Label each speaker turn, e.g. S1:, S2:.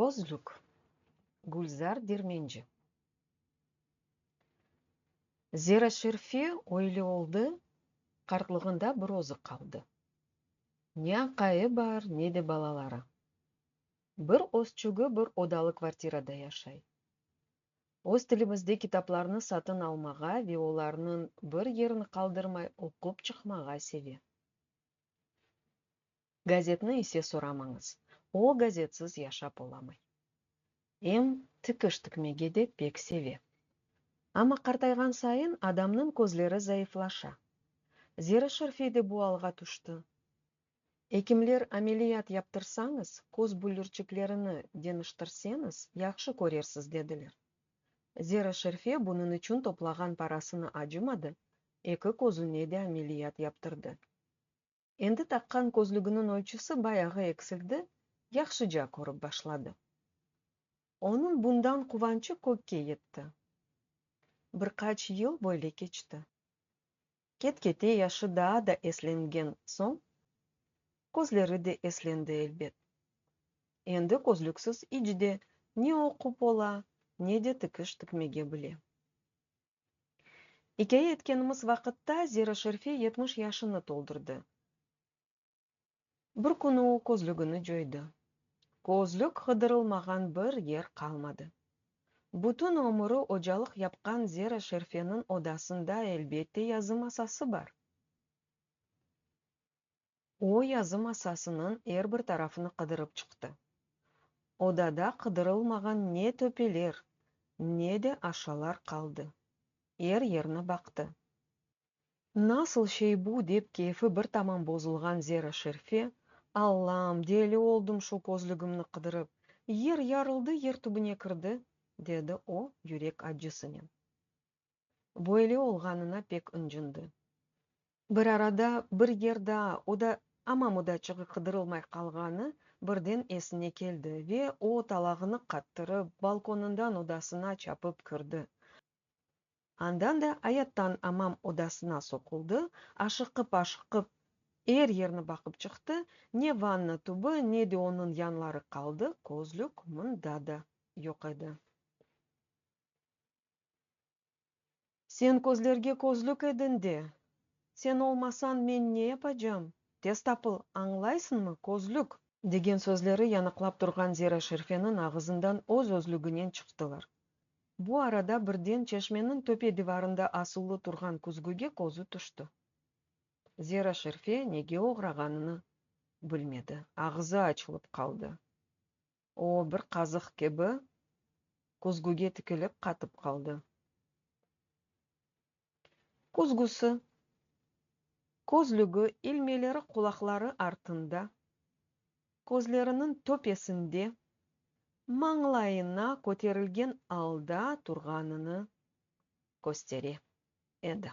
S1: Közlük, Gülzar Dermenci. Zera Şerife öyle oldı, qartlığında bir özü qaldı. Ne aqayı bar, ne de balaları. Bir özçügi bir odalı kvartirada yaşay. Öz tilimizde kitaplarnı satın almağa ve olarnıñ bir yerini qaldırmay oqup çıqmağa seve. Gazetni ise soramañız, o gazetsiz yaşap olamay. Em tikiş tikmege de pek seve. Amma qartayğan sayın adamnıñ közleri zayıflaşa. Zera Şerfiy de bu alğa tüşti. Ekimler, ameliyat yaptırsañız, köz büllürçiklerini deñiştirseñiz, yahşı körersiz, dediler. Zera Şerfiy bunıñ içün toplağan parasını acımadı, eki közüne de ameliyat yaptırdı. Endi taqqan közlüginiñ ölçüsi bayağı eksildi, yahşıca körip başladı. Onıñ bundan quvançı kökke yetti. Bir qaç yıl böyle keçti. Ket-kete yaşı daa da eslengen soñ, közleri de eslendi, elbet. Endi közlüksiz iç de ne oqup ola, ne de tikiş tikmege bile. İkâye etkenimiz vaqıtta Zira Şerfi yetmiş yaşını toldurdı. Bir künü o közlügini coydı. Közlük qıdırılmağan bir yer qalmadı. Bütün ömüri ocalıq yapqan Zira Şerfeniñ odasında elbette yazı masası bar. O yazı masasınıñ er bir tarafını qıdırıp çıqtı. Odada qıdırılmağan ne töpeler, ne de aşalar qaldı. Er yerni baqtı. Nasıl şey bu? dep keyfi bir tamam bozulğan Zera Şerife, Allam, deli oldım şu közlügimni qıdırıp, yer yarıldı, yer tübüne kirdi, dedi o, yürek accısınen. Böyle olğanına pek ıncındı. Bir arada bir yer daa, o da amam udaçığı qıdırılmay qalğanı birden esine keldi ve o, talağını qattırıp, balkonından odasına çapıp kirdi. Andan da ayattan amam odasına soquldı, aşıqıp-aşıqıp er yerni baqıp çıqtı, ne vanna tübü, ne de onıñ yanları qaldı, közlük mında da yoq edi. Sen közlerge közlük edin de. Sen olmasañ men ne yapacam? Tez tapıl, añlaysıñmı, közlük! Degen sözleri yanıqlap turğan Zera Şerifeniñ ağızından öz-özlüginen çıqtılar. Bu arada birden çeşmeniñ töpe divarında asılı turğan küzgüge közü tüşti. Zera Şerife nege oğrağanını bilmedi, ağızı açılıp qaldı. O, bir qazıq kibi, küzgüge tikilip qatıp qaldı. Küzgüsi, közlügi, ilmeleri qulaqları artında, közleriniñ töpesinde, mañlayına köterilgen alda turğanını köstere edi.